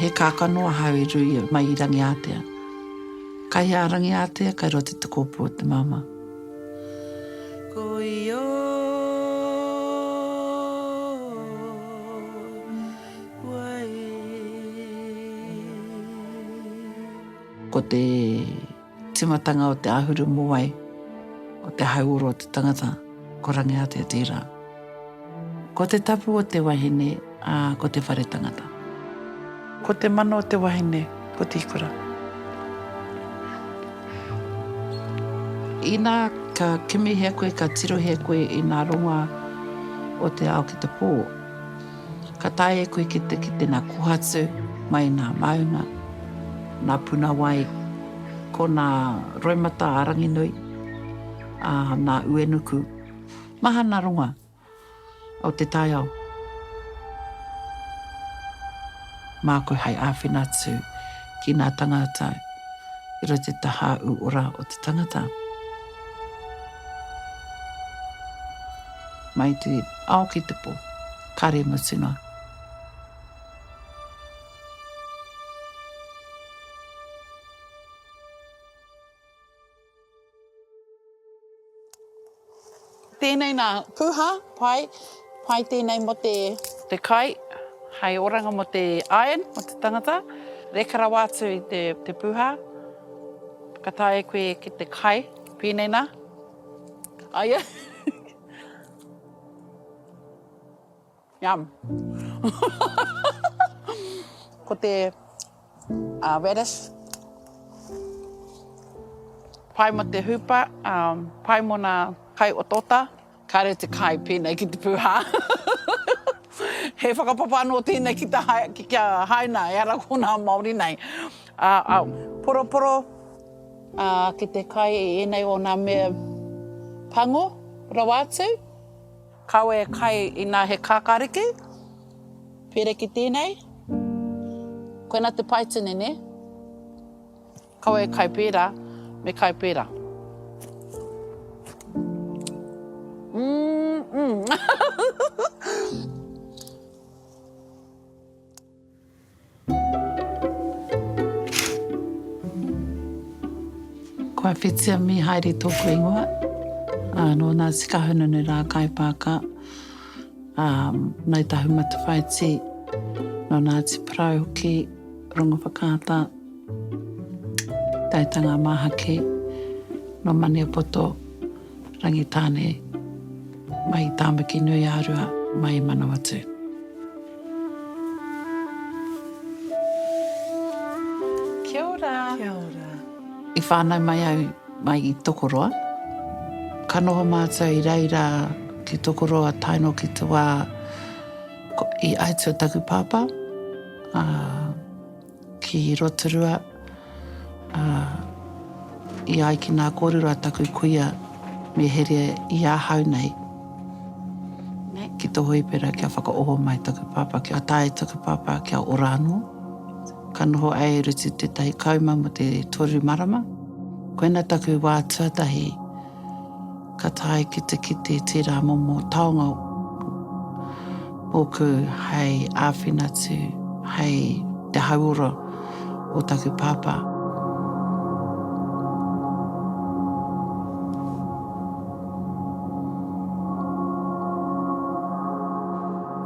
He kākano ahau i rui mai i Rangiātea. Kai hea a Rangiātea, kai roto i te kōpū o te māmā. Ko ia wai. Ko te. Tīmatanga o te āhuru mōwai, o te hauora o te tangata, ko Rangiātea tērā. Ko te tapu o te wahine, ā, ko te whare tangata. Ko te mana o te wahine, ko te ikura. Inā ka kimihia koe, ka tirohia koe i ngā rongoā o te ao ki te pō. Ka taea e koe ki te kite nā Kohatu mai nā Maunga, nā Punawai, ko nā Roimata a Ranginui, ā, nā Uenuku. Mahana ronga o te taiao. Māku hai āwhina atu ki nā tangāta i roto i te taha ū ora o te tangata. Mai te ao ki te po. Kare mutunga. Tēnei nā, puha, pai, pai tēnei mō te. Te kai, hei oranga mō te iron, mō te tangata. Reka rawa atu i te puha. Ka taea e koe ki te kai, pēnei nā. Aia. Yum. Ko te uh, radish, pai mo te hupa, um, pai mo na kai o tota, kare te kai pēnei ki te pūhā. He whakapapa anō tēnei ki, te hai, ki kia haina, e ara kōna Māori nei. Ā, ā. Poroporo, ā, ki te kai i ēnei o ngā mea pango rawa atu. Kawe kai inā he kākāriki, pēreki tēnei. Koinā te paitini, nē? Kawe kai pērā, me kai pērā. Umm, umm. Ko a Whitia Mihaere tōku ingoa. Nō nā Tika Hununu rā Kai Paaka, Ngāi Tahu Matawhaiti, nō Ngāti Porou hoki, Rongowhakaata, Taitanga Māhaki, nō Maniapoto. Rangitāne, mai i Tāmaki-nui-ā-rua, mai i Manawatū. Kia ora! Kia ora! I whānau mai au mai i Tokoroa. Ka noho mātou i reira ki Tokoroa tae noa ki te wā i atua taku pāpā, ā, Ki Rotorua, ā, i ai ki nā kōrero a taku kuia me here i ahau nei ki tō Hoipera kia whakaoho mai taku pāpā, kia taea e taku pāpā kia ora anō. Ka noho ai e Rutu tētahi kauma mō te toru marama. Koina taku wā tuatahi. ka tae ki te kite tērā momo taonga ōku hei āwhina atu hei te hauora o taku pāpā.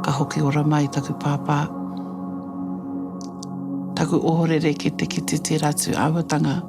Ka hoki ora mai taku pāpā, taku ohorere ki te kite tērā atu āhuatanga.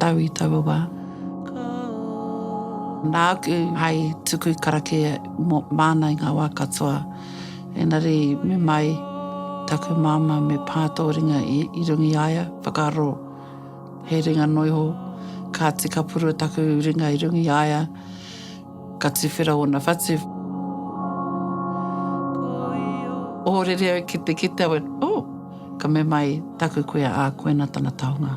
tau i taua wā. Nāku hai tuku karakia māna i ngā wā katoa, engari me mai taku māmā me pā tō ringa i runga i a ia, whakaaro he ringa noa iho, kāti ka purua taku ringa i runga i a ia, ka tuwhera ōna whatu. Ōrere au ki te kite au, oh! Ka mea mai taku kuia, ā, koina tana taonga.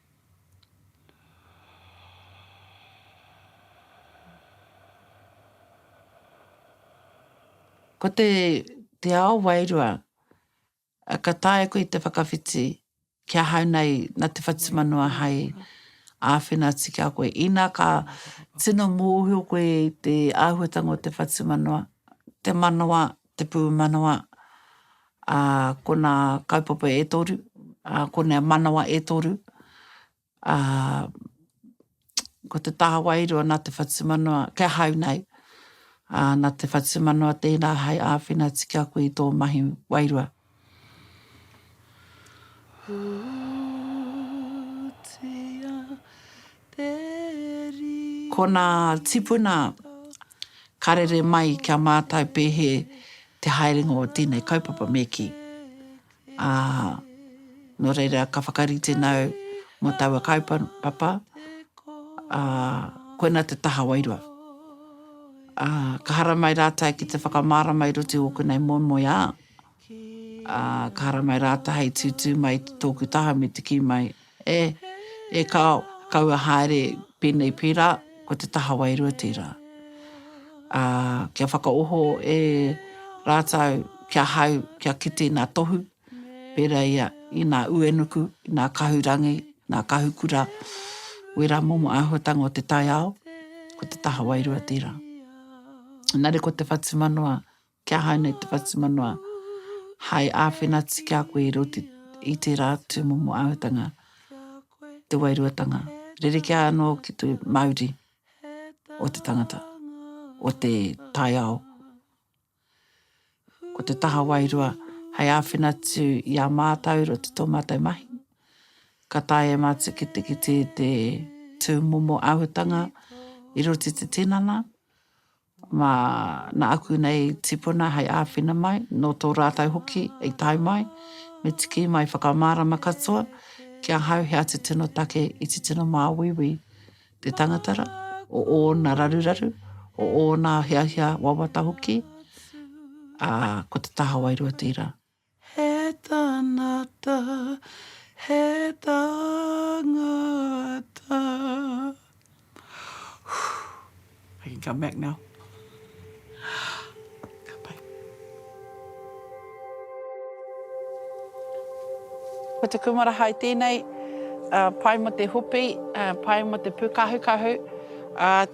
Ko te, te ao wairua, ka taea koe te whakawhiti ki ahau nei na te whatumanawa hai āwhina atu ki a koe. Ina ka tino mōhio koe i te āhuatanga o te whatumanawa, te manawa, te pūmanawa, ā, ko nā kaupapa e toru, ā, ko nā manawa e toru, ā, ko te taha wairua nā te whatumanawa, kia hau nei, ā, nā te whatumanawa tērā hai āwhina tiki aku i tō mahi wairua. Kona tipuna karere mai kia mātau pēhe te haerenga o tēnei kaupapa me kī. Ā, nō reira ka whakarite nau mō taua kaupapa, ā, koina te taha wairua. Ā, ka haramai rātau ki te whakamārama i roto i ōku nei moemoeā. Ā, ka hara mai rātou hei tūtū mai i tōku taha me te kī mai, E, e ka kaua haere pēnei pērā, ko te taha wairua tērā. Ā, kia whakaoho e rātou ki ahau kia kite nā Tohu, pērā i a, i nā Uenuku, i nā Kahurangi, nā Kahukura, wērā momo āhuatanga o te taiao, ko te taha wairua tērā. Engari ko te whatumanawa, Kia hau nei te whatumanawa hai āwhinatia ki a koe i roto i tērā tūmomo āhuatanga, te wairuatanga. Rerekē anō ki te mauri o te tangata, o te taiao. Ko te taha wairua hai āwhina atu i a mātou i roto i tō mātou mahi. Ka taea e mātou ki te kite te tūmomo āhuatanga i roto i te tinana, mā nā aku nei tipuna hei āwhina mai, nō tō rātou hoki i tae mai, me tiki mai whakamārama katoa ki ahau he atu tino take i titino māuiui te tangatara, o ōna raruraru, o ōna hiahia wawata hoki, ā, ko te taha wairua tērā. He tanata, he tangata I can come back now. Ka pai. Ko te kūmara hai tēnei, pai mō te hopi, pai mō te pūkahukahu,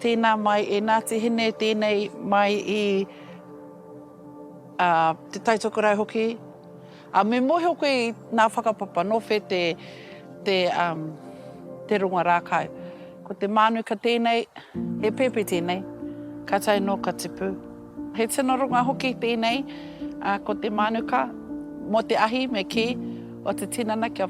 tēnā mai e Ngāti Hine, tēnei mai i. ā, te taitokerau hoki, ā, me mōhio koe i nā whakapapa nō whē te, te, ā, te ronga rākau. Ko te mānuka tēnei, he pēpi tēnei, ka tae nō ka tipu. He tino ronga hoki tēnei, ā, ko te mānuka, mō te ahi me kī, o te tinana kia.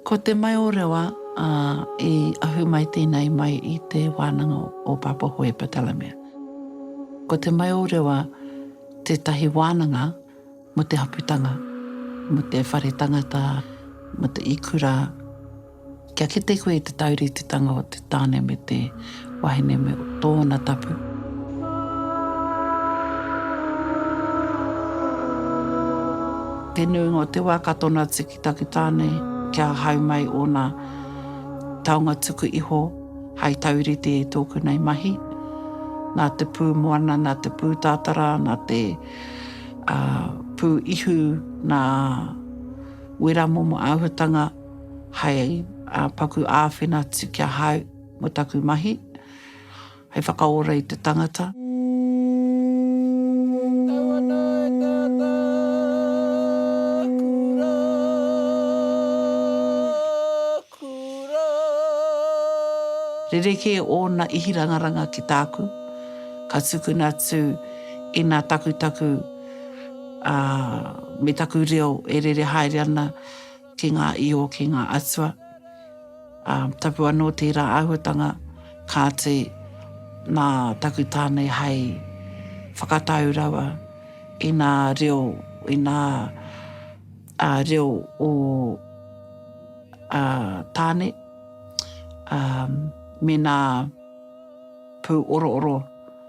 Ko Te Maiorewa, ā, i ahu mai tēnei mai i te wānanga o Papaho e Ptolemaia. Ko Te Maiorewa tētahi wānanga mō te haputanga, mō te whare tangata, mō te ikura. Kia kite koe i te taurititanga o te tāne me te. Wahine me tōna tapu. Te nuinga o te wā ka tono atu ki taku tāne kia hau mai ōna taonga tuku iho hai taurite i tōku nei mahi. Nā te pū moana, nā te pū tātara, nā te pū ihu, nā wera momo āhuatanga hai paku āwhina atu kia hau. Mo taku mahi, hei whakaora i te tangata. Tau ana e Tata kura, kura. Rerekē ōna ihirangaranga ki tāku, ka tukuna atu ina takutaku, ā, me taku reo e rere haere ana. ki ngā iho, ki ngā atua. Ā, tapu anō tērā āhuatanga, kāti, nā taku tāne hai whakatau rawa i nā reo, i nā ā, reo o ā, tāne, ā, me nā pū orooro.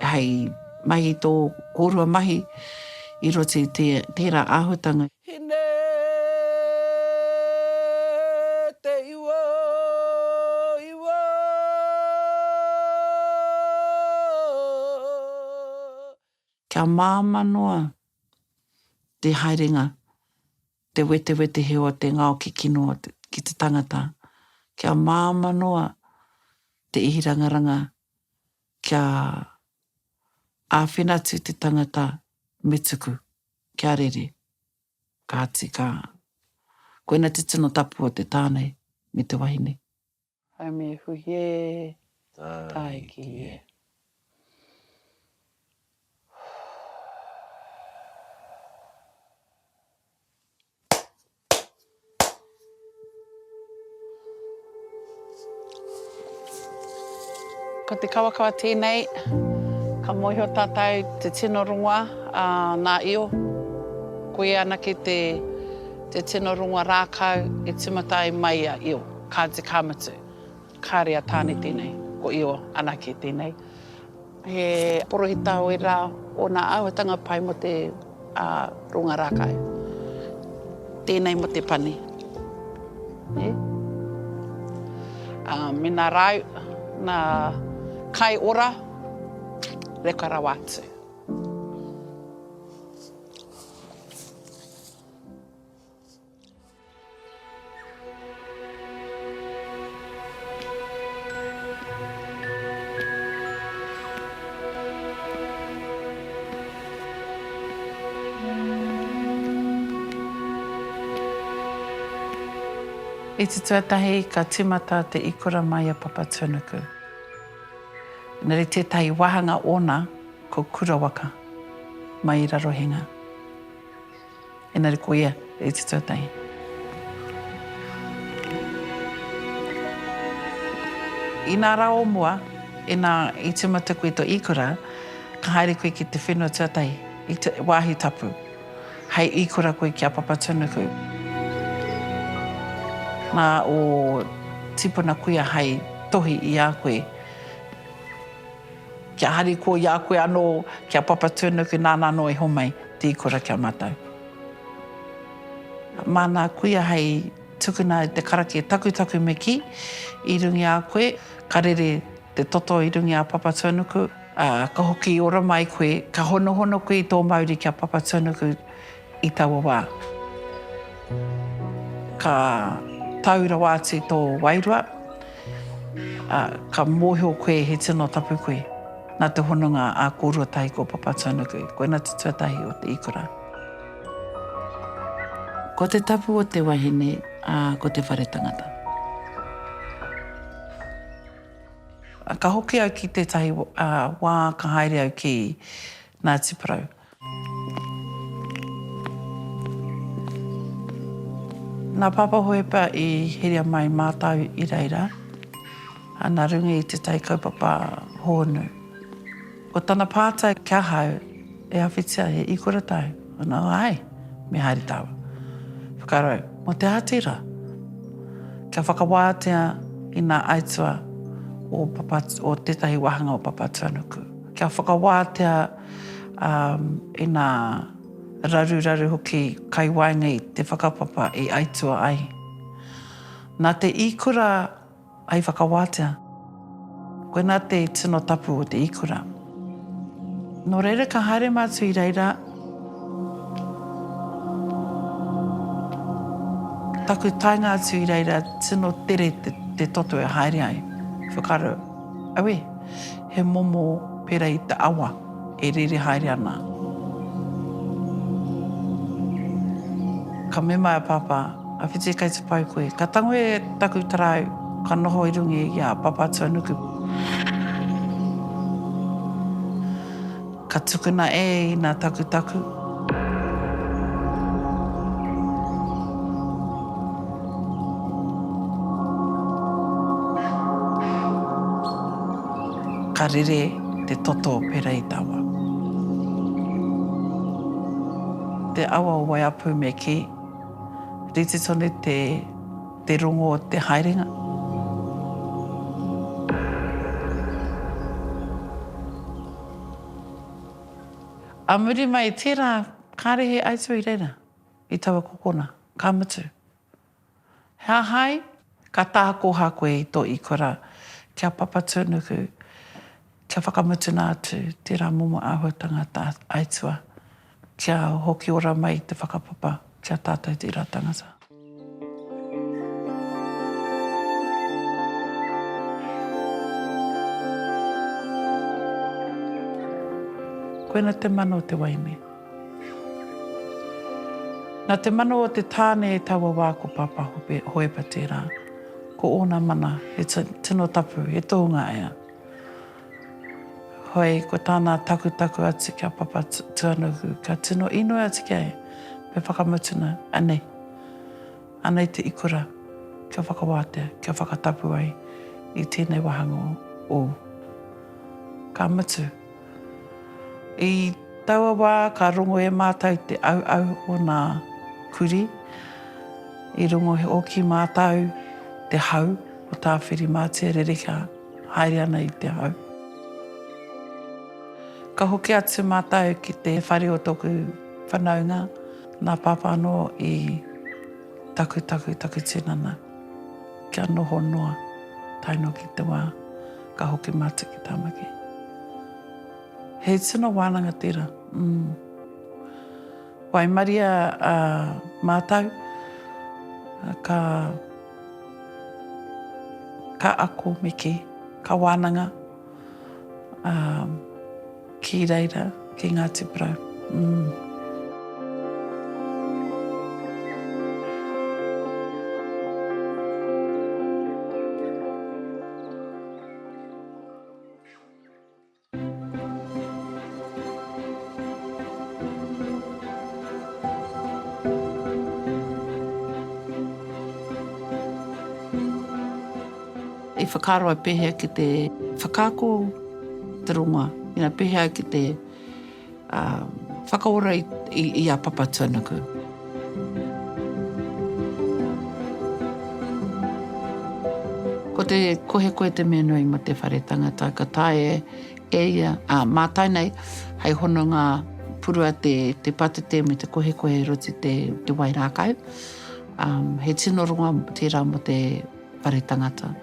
hei mahi i tō kōrua mahi i roto i tērā āhuatanga. Hine te iwa, iwa, iwa. Kia māmā noa te haerenga, te wetewetehe o te ngao ki kino ki te tangata. Kia māmā noa te ihirangaranga Kia āwhina atu te tangata me tuku, kia rere. Kāti ka. Koina te tino tapu o te tāne me te wahine. Haumi e hui e, tāiki e. Ko te kawakawa tēnei, ka mōhio tātou te tino rongoa a ngā io. Ko ia anake te tino rongoa rākau e tīmata ai mai a io, kāti ka mutu. Kāre a Tāne tēnei, ko Io anake tēnei. He porohita o ērā o nā āhuatanga pai mō te ronga rākau. Tēnei mō te pani. Mēnā rāu nā kai ora, reka rawa atu. I te tuatahi ka timata te ikora mai a Papatūnuku. Engari tētahi wāhanga ōna ko Kurawaka, mai i Rarohenga. Engari ko ia i te tuatahi. Inā rā o mua, inā i tīmata koe i tō īkura, ka haere koe ki te whenua tuatahi, i te wāhi tapu, hei īkura koe ki a Papatūnuku. Nā ō tīpuna kuia hei tohi i a koe. Kia hari ko i a koe anō, ki a Papatūnuku nāna anō e homai te ikora ki a mātou. Māna a kuia hei tukuna i te karake takutaku me kī, i runga i a koe, ka rere te toto i runga i a Papatūnuku, ā, ka hoki ora mai koe, ka honohono koe i tō mauri ki a Papatūnuku, I taua wā, ka tau rawa atu tō wairua, ā, ka mōhio koe he tino tapu koe, nā te hononga a kōrua tahi ko Papatūānuku, koina te tuatahi o te ikura. Ko te tapu o te wahine, ā, ko te whare tangata. Ka hoki au ki tētahi wā ka haere au ki Ngāti Porou. Nā Pāpā Hohepa i heria mai mātau i reira, ana runga i te tai kaupapa hōnu. Ko tana pātai ki ahau, E awhitia, he ikura tau? Ana, Āe, me haere tāua. Whakarau, mō te Āti rā? Kia whakawātea i ngā aituā o tētahi wāhanga o Papatūānuku. Kia whakawātea. ā, ina raruraru hoki kai waenga i te whakapapa i aitua ai. Nā te īkura ai whakawātea. Koinā te tino tapu o te īkura. Nō reira ka haere mātou i reira. Taku taenga atu i reira, tino tere te toto e haere ai. Whakaaro, Aue! He momo pera i te awa e rere haere ana. Ka mema e a Papa, A whiti kai te pai koe. Ka tango e taku tarau, ka noho i runga i a Papatuanuku. Ka tukuna e ina takutaku. Ka rere te toto o Pereitawa. Te awa o Waiapu me ki. Rite tonu te rongo o te haerenga. A muri mai i tērā, kāre he aituā i reira, i taua kokona, ka mutu. He aha ai? Ka tākoha koe i tō ikora kia papatūnuku, kia whakamutuna atu tērā momo āhuatanga aituā. Kia hoki ora mai te whakapapa ki a tatou tera tangata. Koina te mano o te waime. Na te mano o te tane e taua wa ko Papa Hope, Hoepa tera. Ko ona mana, he tino tapu, he tohunga ea. Hoi, ko tāna takutaku atu ki a Papa Tuanuku, ka tino inoi atu ki a ia, me whakamutuna, anei, anei te ikura kia whakawātea, kia whakatapu ai i tēnei wāhanga ō. Ka mutu. I taua wā ka rongo e mātou te auau o nā kuri, i rongo hoki mātou te hau o Tāwhirimātea rerekā. Haere ana i te hau. Ka hoki atu mātou ki te whare o tōku whanaunga, nā Pāpā anō i takutaku taku tinana kia noho noa tae noa ki te wā ka hoki mātou ki Tāmaki. He tino wānanga tērā, ū. Waimaria a mātou, ka ka ako me kī, ka wānanga ā ki reira ki Ngāti Porou. Umm. I whakaaro ai pehea ki te whakaako te rongoa, ina pehea ki te. Whakaora i a Papa tuanuku. Ko te kohe koe te mea nui mo te whare tangata ka taea e ia a Matai nei hei hononga purua te patete me te kohe koe roti te wai rakau. He tino rongo tera mo te whare tangata.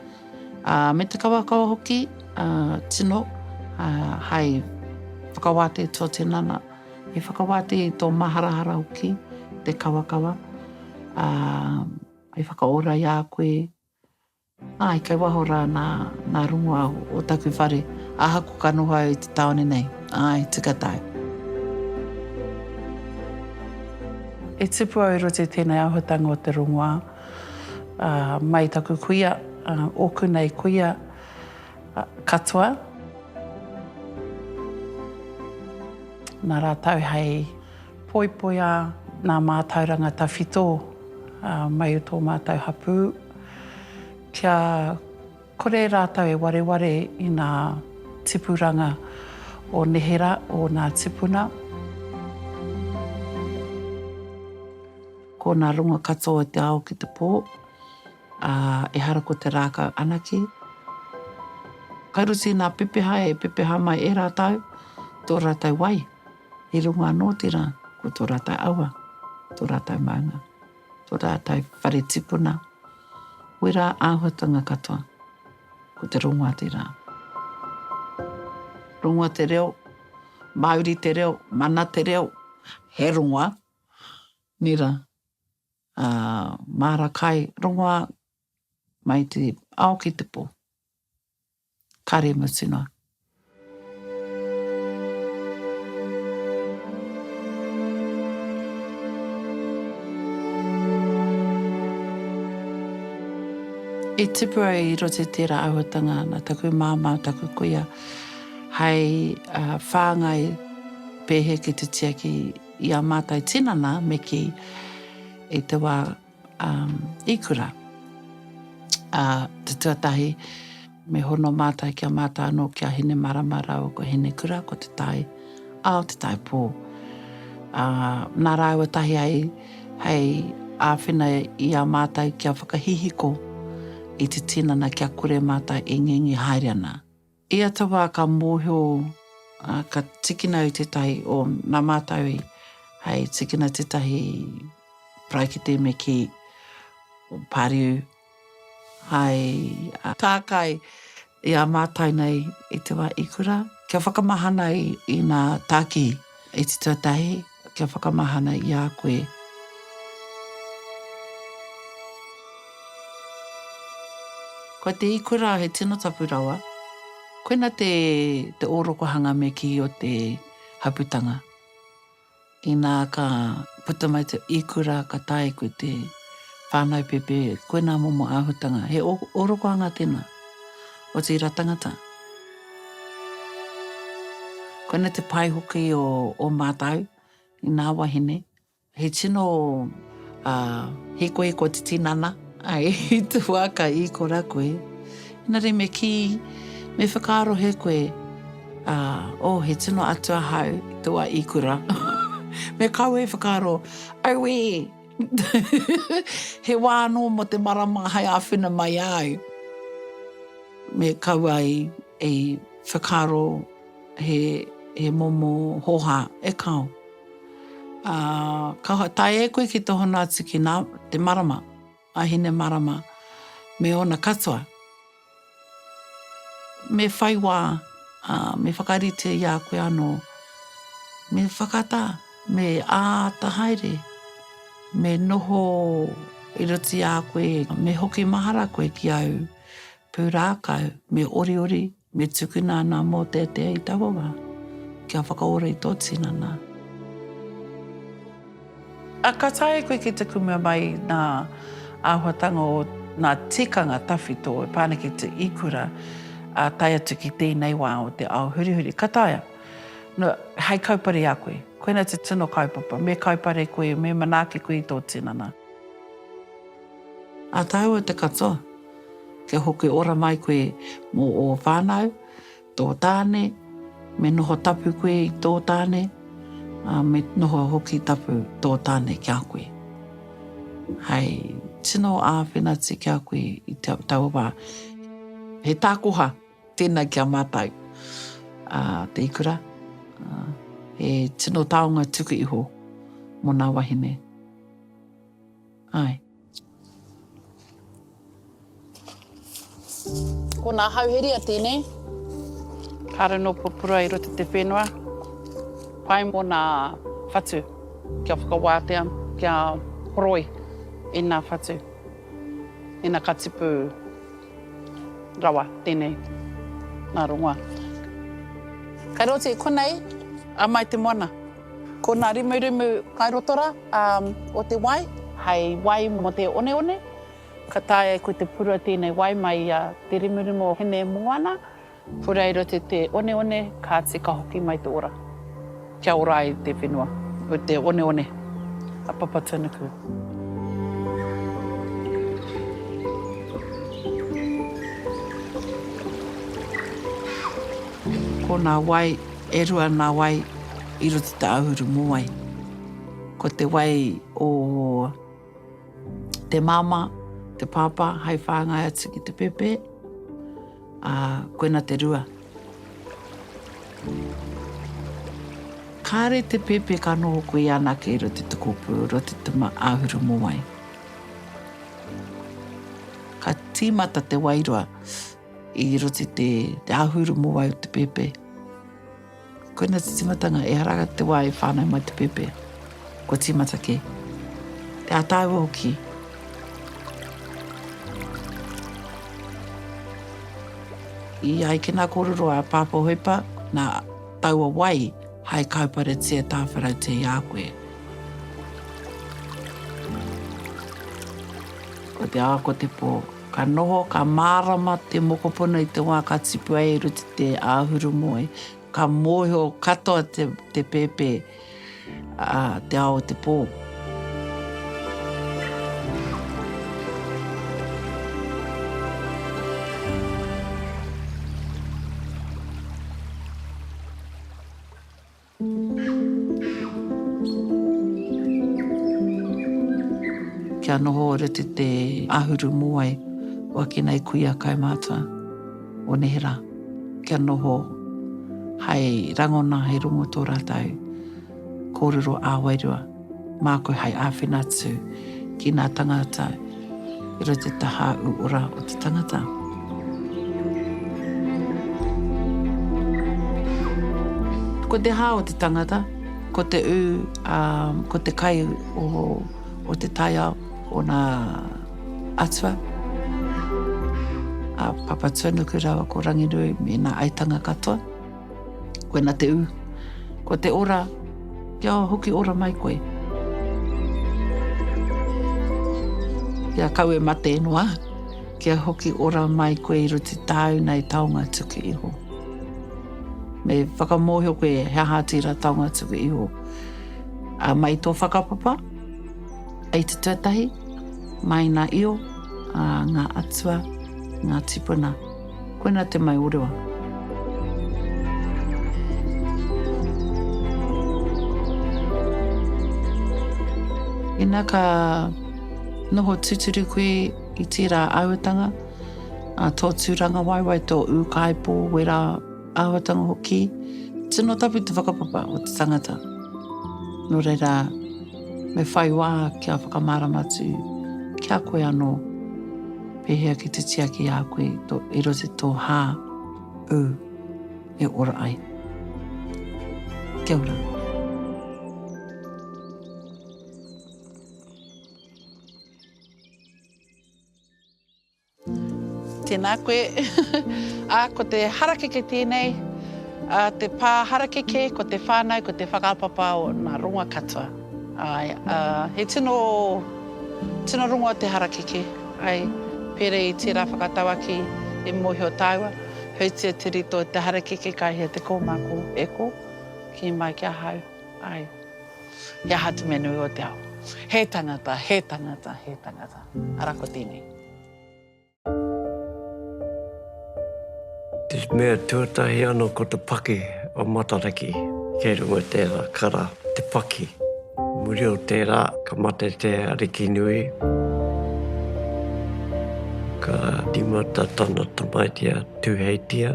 Ā, me te kawakawa hoki, ā, tino, ā, hai whakawātē tō tinana, he whakawātē i tō maharahara hoki te kawakawa, ā, hai whakaora i a koe, āe, kei waho rā nā, nā rongoā o taku whare, ahaku ka noho au i te tāone nei, āe, tika tae. E tipu au i roto i tēnei āhuatanga o te rongoā. Mai taku kuia, oku nei kuia katoa. Na ratou hei poipoia na matauranga tawhito mai o to matou hapu kia kore ratou e wareware i na tipuranga o nehera o na tipuna. Ko nā runga katoa o te ao ki te pō, ā, ehara ko te rākau anake. Ka ruti nā pepeha e pepeha mai e rātou tō rātou wai, i runga anō tērā ko tō rātou awa, tō rātou maunga, tō rātou whare tipuna, wera āhuatanga katoa, ko te rongoa tērā. Rongoa te reo, Māori te reo, mana te reo, he rongoa. Mira, ā, māra kai rongoā mai te ao ki te pō. Kāre mutu noa. I tipu ai i roto i tērā āhuatanga nā taku māmā, taku kuia, hei whāngai pēhea ki te tiaki I a mātou tinana me kī i te wā i kura te tuatahi me hono mātou ki a mātou anō ki a Hinemarama rāua ko Hinekura ko Te Tai Ao Te Tai Pō nā rāua tahi ai hei āwhina i a mātou kia whakahihiko i te tinana kia kore mātou e ngingi haere ana Ia te wā ka mōhio, ā, ka tikina au tētahi, o, nā mātou i, hei tikina tētahi paraikete me kī, o Pariu, hai, ā, tākai i a mātou nei i te wā i kura, kia whakamahana i, i nā tākihi. E te tuatahi, kia whakamahana i a koe. Ko te ikura he tino tapu rawa. Koina te, te orokohanga me ki o te haputanga. Ina ka puta mai te ikura ka tae koe te whānau pepe, koina momo āhutanga. He orokohanga tēnā. O tērā tangata. Koina te pai hoki o o mātou i nā wahine. He tino hikoiko te tinana. I te wā ka īkora koe. Engari me kī, me whakaarohe koe, oh, he tino atua hau i te wā īkora. Me kawe e whakaaro, auē! He wā anō mō te marama hai āwhina mai āu. Me kaua i whakaaro he momo hōhā, e kāo. Ā, kāo, tae e koe ki te hono atu ki nā, te marama, a Hinemarama me ōna katoa. Me whai wā, ā, me whakarite i a koe anō. Me whakatā, me āta haere, me noho i roto i a koe, me hoki mahara koe ki āu pūrākau, me oriori, me tukuna ana mōteatea i taua wā, kia whakaora i tō tinana. A ka taea koe ki te kumea mai nā āhuatanga o nā tikanga tawhito e pā ana ki te ikura, ā, tae atu ki tēnei wā o te ao hurihuri. Ka taea. Nō, hei kaupare i a koe. Koinā te tino kaupapa. Me kaupare koe, me manaaki koe i tō tinana. Ā tāua te katoa, kia hoki ora mai koe mō ō whānau. Tō tāne, me noho tapu koe i tō tāne, ā, me noho hoki tapu tō tāne ki a koe. Hei tino āwhinatia ki a koe i taua wā, he tākoha tēnā ki a mātou, ā, te ikura, ā, he tino taonga tuku iho mō nā wahine. Āe. Ko nā Hauheria tēnei. Kāre nō pupura i roto te whenua, pai mō nā whatu kia whakawātea, kia horoi i nā whatu, i nā katipu rawa tēnei, nā rongoa. Kai roti, konei. Amae te moana. Ko nā rumurumu kairotora o te wai, hei wai mō te oneone, ka taea e koe te purua tēnei wai mai i a Te Rumurumu o Hine Moana, purua i roto i te oneone, kāti ka hoki mai te ora. Kia ora ai te whenua o te oneone a Papatūnuku. Ko nā wai E rua nā wai i roto i te āhuru mōwai. Ko te wai o te māmā, te pāpā hai whāngai atu ki te pēpē, ā, koina te rua. Kāre te pēpē ka noho koe i anake i roto i te kōpū, i roto i te āhuru mōwai. Ka tīmata te wairua. I roti te āhuru mo wai o te pēpē. Koina te timatanga, ehara ga te wā e whānau mai te pēpē. Kua tīmata kē. Te ātaua hoki. I ai ki nā kōrero a Pāpā Hoipa, nā taua wai hai kauparetia tāwharautia i a koe. Ko te ā, ko te pō. Ka noho, ka mārama te mokopuna i te wā ka tipua e Ruti te āhuru moe. Ka mōhio katoa te pēpē, ā, te ao o te pō. Kia noho rite te ahuru moai o ake nei kuia kaimātua o nehera. Kia noho hai rangona hai rongo tō rātau kōrero ā-wairua. Mā koe hai āwhina atu ki nā tangāta i roto i te tahā uora o te tangata. Ko te hā o te tangata, ko te ū, ā, ko te kai o te taiao o nā atua, a Papatūanuku rāua ko Ranginui me nā aitanga katoa. Koina te u. Ko te ora, kia hoki ora mai koe. Kia kau e mate noa, kia hoki ora mai koe i ruti tāu nei taonga tuku iho. Me whakamōhio koe he aha tira taonga tuku iho. A mai tō whakapapa, ei te tuatahi, mai na io, a ngā atua, ngā tipuna. Koina te mai o rewa. Ina ka noho tuturu koe i tērā auatanga, a tō tūranga waewae, tō ūkaipō, wera, Āhuatanga hoki, tino tapu te whakapapa o te tangata. Nō reira, me whai wā kia whakamārama atu ki a koe anō, pēhea ki te tiaki a koe to, i roto tō hā, ū, e ora ai. Kia ora. Tēnā koe. Ā, ko te harakeke tēnei, ā, te pā harakeke, ko te whānau, ko te whakapapa o nā rongoa katoa. Āe, ā, he tino, tino rongoa te harakeke, āe, pērā i tērā whakatauaki i mōhio tāua, hautia te rito o te harakeke ka hia te kōmako e kō, kī mai ki ahau, āe, he aha te mea nui o te ao? He tangata, he tangata, he tangata. Arā ko tēnei. Te mea tuatahi ano ko te paki o Matariki, kei runga tera kara te paki. Muri o tera ka mate te ariki nui, ka timata tana tamaiti a Tuheitia,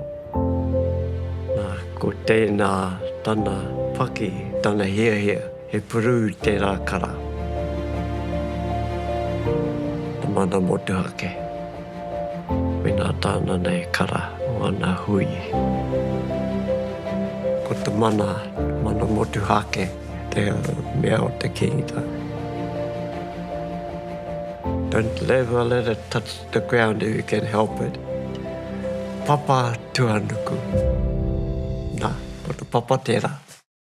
na ko tena tana paki, tana hiahia. He purū tērā kara. Te mana motuhake. Mēnā tāna nei kara o ana hui. Ko te mana, mana motuhake te mea o te Kingita. Don't ever let it touch the ground if you can help it. Papa tuanuku. Na, ko te papa tērā.